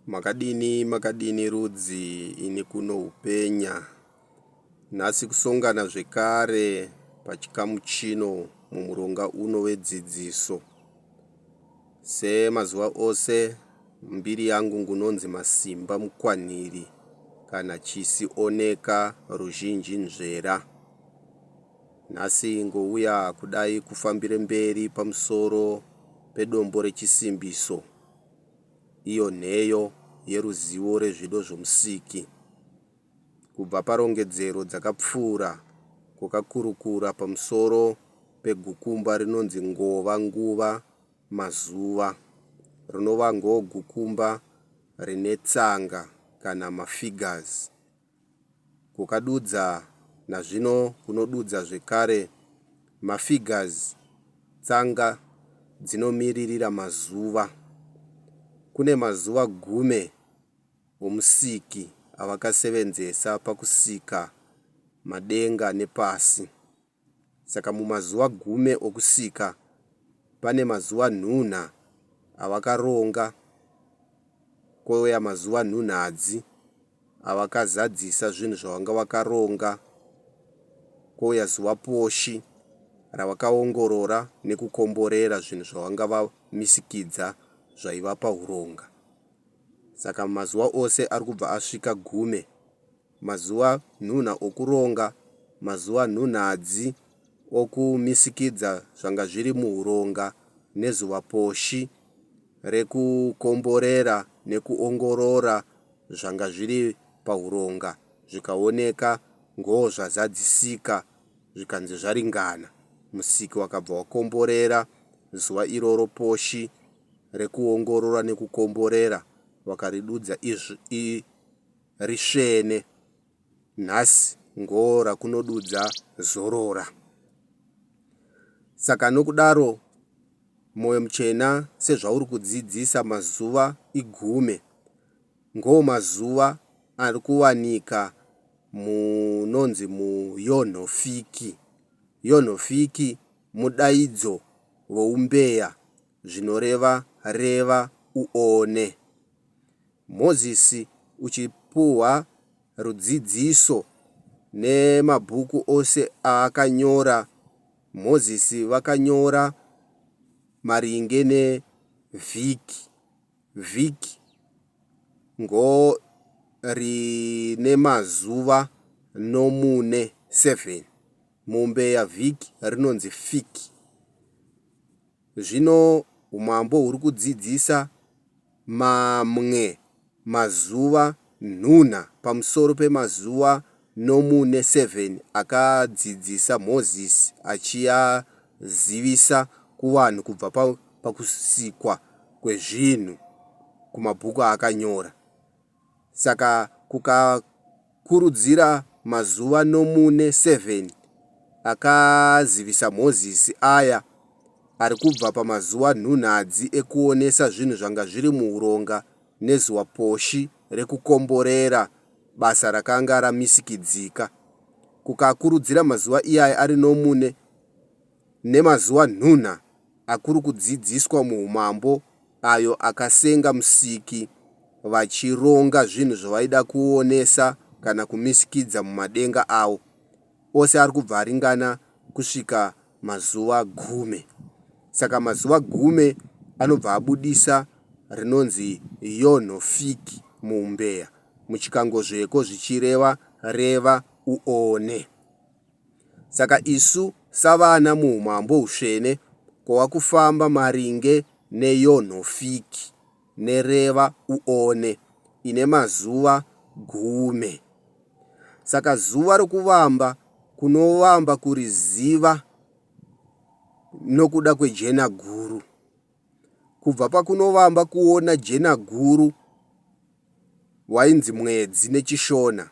Makadini makadini rudzi ini kuno upenya nhasi kusongana zvekare pachikamu chino mumuronga uno wedzidziso semazuva ose mbiri yangu ngunonzi masimba mukwanhiri kana chisi oneka ruzhinji nzvera Nhasi ngouya kudai kufambire mberi pamusoro pedombo rechisimbiso, iyo nheyo yeruzivo rezvido zvoMusiki. Kubva parongedzero dzakapfuura kwakakurukura pamusoro pegukumba rinonzi ngova, nguva, mazuva, rinova ngogukumba rine tsanga kana mafigures, kukadudza nazvino kunodudza zvekare mafigures tsanga dzinomiririra mazuva. Kune mazuva gume omusiki avakasevenzesa pakusika madenga nepasi. Saka mumazuva gume okusika, pane mazuva nhunha avakaronga, kouya mazuva nhunhadzi avakazadzisa zvinhu zvavanga vakaronga, kouya zuva poshi ravakaongorora nekukomborera zvinhu zvavanga vamisikidza zvaivapa huronga. Saka mumazuva ose ari kubva asvika gume, mazuva nhunha okuronga, mazuva nhunhadzi okumisikidza zvanga zviri muhuronga, nezuva poshi rekukomborera nekuongorora zvanga zviri pahuronga, zvikaoneka ngoo zvazadzisika, zvikanzi zvaringana. Musiki wakabva wakomborera zuva iroro poshi rekuongorora nekukomborera, wakaridudza izv. risvene nhasi ngoo rakunodudza zorora saka nokudaro moyo muchena sezvauri kudzidzisa mazuva igume ngoo mazuva ari kuwanika munonzi muyonhofiki yonhofiki mudaidzo voumbeya zvinoreva reva uone. Mozisi uchipuhwa rudzidziso nemabhuku ose aakanyora Mozisi vakanyora maringe ne vhiki. Vhiki ngo rine mazuva nomune, seven. Mombe ya vhiki rinonzi fiki. Zvino Umambo huri kudzidzisa mamwe mazuva nhunha pamusoro pemazuva nomu nesevheni akadzidzisa Mozisi achiazivisa kuvanhu kubva pakusikwa kwezvinhu kumabhuku aakanyora. saka kukakurudzira mazuva nomune sevheni akazivisa Mozisi aya ari kubva pamazuva nhunhadzi ekuonesa zvinhu zvanga zviri muhuronga nezuva poshi rekukomborera basa rakanga ramisikidzika. Kukakurudzira mazuva iyaya ari nomune nemazuva nhunha akuri kudzidziswa muhumambo ayo akasenga Musiki vachironga zvinhu zvavaida kuonesa kana kumisikidza mumadenga avo ose ari kubva aringana kusvika mazuva gume. Saka mazuva gume anobva abudisa rinonzi Yonho Fiki muhumbeya, muchikangozveko zvichireva reva uone. Saka isu savana muumambo hutsvene kwava kufamba maringe neyonhofiki, nereva uone, ine mazuva gume. Saka zuva rokuvamba kunovamba kuriziva nokuda kwejenaguru. Kubva pakunovamba kuona jenaguru wainzi mwedzi neChishona,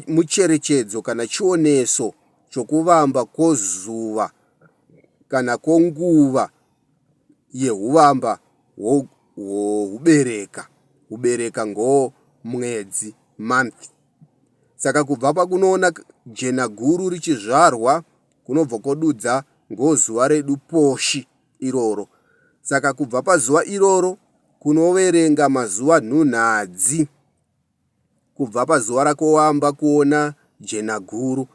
mucherechedzo kana chioneso chokuvamba kwozuva kana kwenguva yehuvamba hwokubereka. Kubereka ngo mwedzi, month. Saka kubva pakunoona jena guru richizvarwa kunobva kwadudza ngo zuva redu poshi iroro. Saka kubva pazuva iroro kunoverenga mazuva nhunhadzi kubva pazuva raKowamba kuona Jenaguru.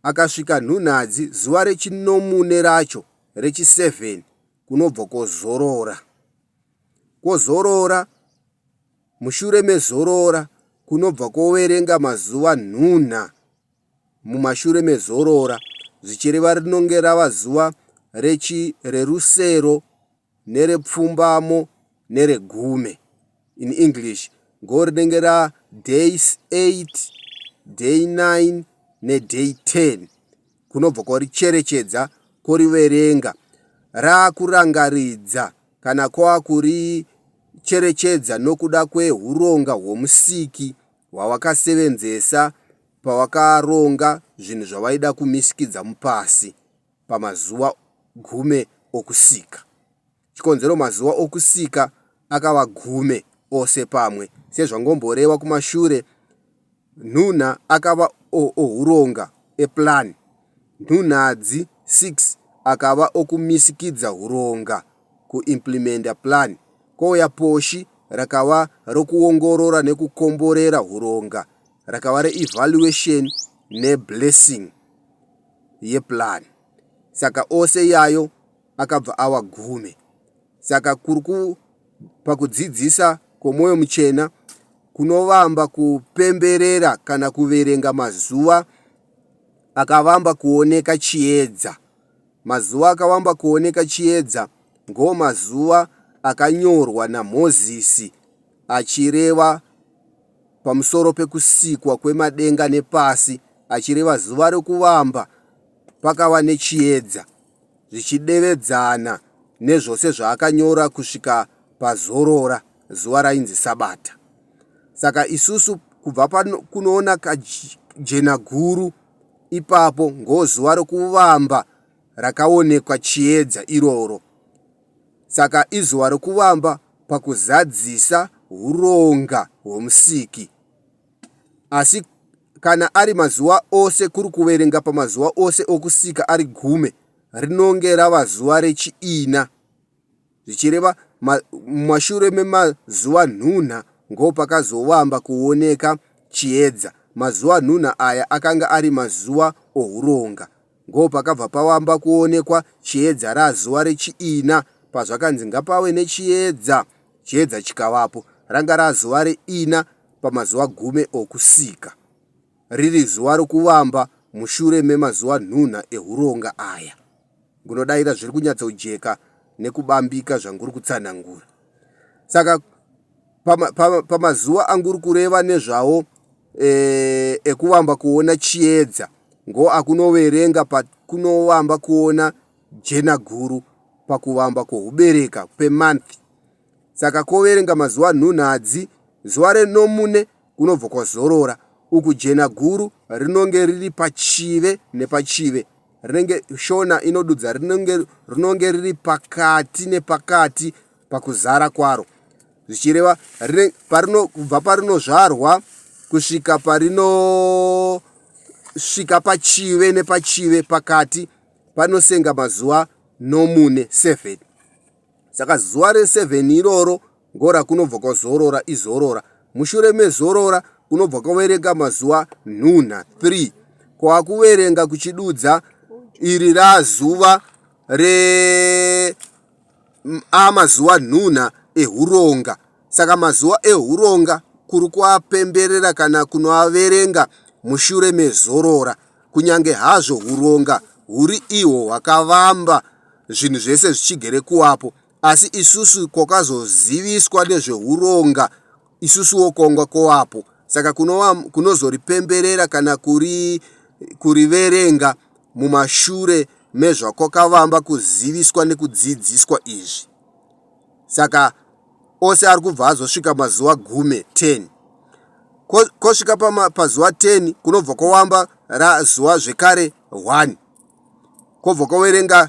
Akasvika Nhunhadzi zuva rechinomune racho rechiseven kunobva kozorora. Kozorora, mushure mezorora kunobva koverenga mazuva nhunha mumashure mezorora zvichireva rinonge rava zuva rechi rerusero. nerepfumbamo neregume in English ngo rinenge ra day 8, day 9 ne day 10 kunobva kwaricherechedza kworiverenga raakurangaridza kana kwakuricherechedza nokuda kwehuronga hwoMusiki hwawakasevenzesa pawakaronga zvinhu zvawaida kumisikidza mupasi. pamazuva gume okusika. Chikonzero mazuva okusika akava gume ose pamwe, sezvangomborewa kumashure, nhunha akava ohuronga, eplan, nhunhadzi 6 akava okumisikidza huronga, kuimplimenda plan, kouya poshi rakava rokuongorora nekukomborera huronga, rakava reevaluation neblessing. yeplan saka ose iyayo akabva awa gumi saka pakudzidzisa kwomoyo muchena kunovamba kupemberera kana kuverenga mazuva akavamba kuoneka chiedza mazuva akavamba kuoneka chiedza ngoo mazuva akanyorwa namozisi achireva pamusoro pekusikwa kwemadenga nepasi achireva zuva rokuvamba pakava nechiedza, zvichidevedzana nezvose zvaakanyora kusvika pazorora, zuva rainzi Sabata. Saka isusu kubva pakunoona kajenaguru ipapo ngozuva rokuvamba rakaonekwa chiedza iroro. saka izuva rokuvamba pakuzadzisa huronga hwoMusiki. Asi kana ari mazuva ose kuri kuverenga pamazuva ose okusika ari gume, rinonge rava zuva rechiina, zvichireva mumashure memazuva nhunha ngo pakazovamba kuoneka chiedza. Mazuva nhunha aya akanga ari mazuva ohuronga. Ngo pakabva pawamba kuonekwa chiedza ra zuva rechiina, pazvakanzi ngapave nechiedza, chiedza chikavapo. Ranga ra zuva reina pamazuva gume okusika, riri zuva rokuvamba mushure memazuva nhunha ehuronga aya. Ngunodaira zviri kunyatsojeka nekubambika zvanguri kutsanangura. Saka pama, pama, pamazuva anguri kureva nezvawo eh, ekuvamba kuona chiedza ngo akunoverenga pakunovamba kuona jena guru pakuvamba kwohubereka pemanth saka koverenga mazuva nhunhadzi zuva renomune kunobva kwazorora uku jena guru rinonge riri pachive nepachive rinenge shona inodudza rinonge rinonge riri pakati nepakati pakuzara kwaro zvichireva rine parino kubva parinozvarwa kusvika parinosvika pachive nepachive pakati panosenga mazuva nomune seven saka zuva reseven iroro ngora kunobva kwazorora izorora mushure mezorora kunobva kwaverenga mazuva nhunha three kwakuverenga kuchidudza iri razuva re ava mazuva nhunha ehuronga. Saka mazuva ehuronga kuri kuapemberera kana kunoaverenga mushure mezorora. Kunyange hazvo huronga huri ihwo hwakavamba zvinhu zvese zvichigere kuvapo, asi isusu kwakazoziviswa nezvehuronga isusuwo kongwa koapo saka kunova kunozoripemberera kana kuri kuriverenga mumashure mezvakwakavamba kuziviswa nekudzidziswa izvi saka ose ari kubva azosvika mazuva gume 10 Ko, kosvika pama, pazuva 10 kunobva kwawamba razuva zvekare 1 kwobva kwawerenga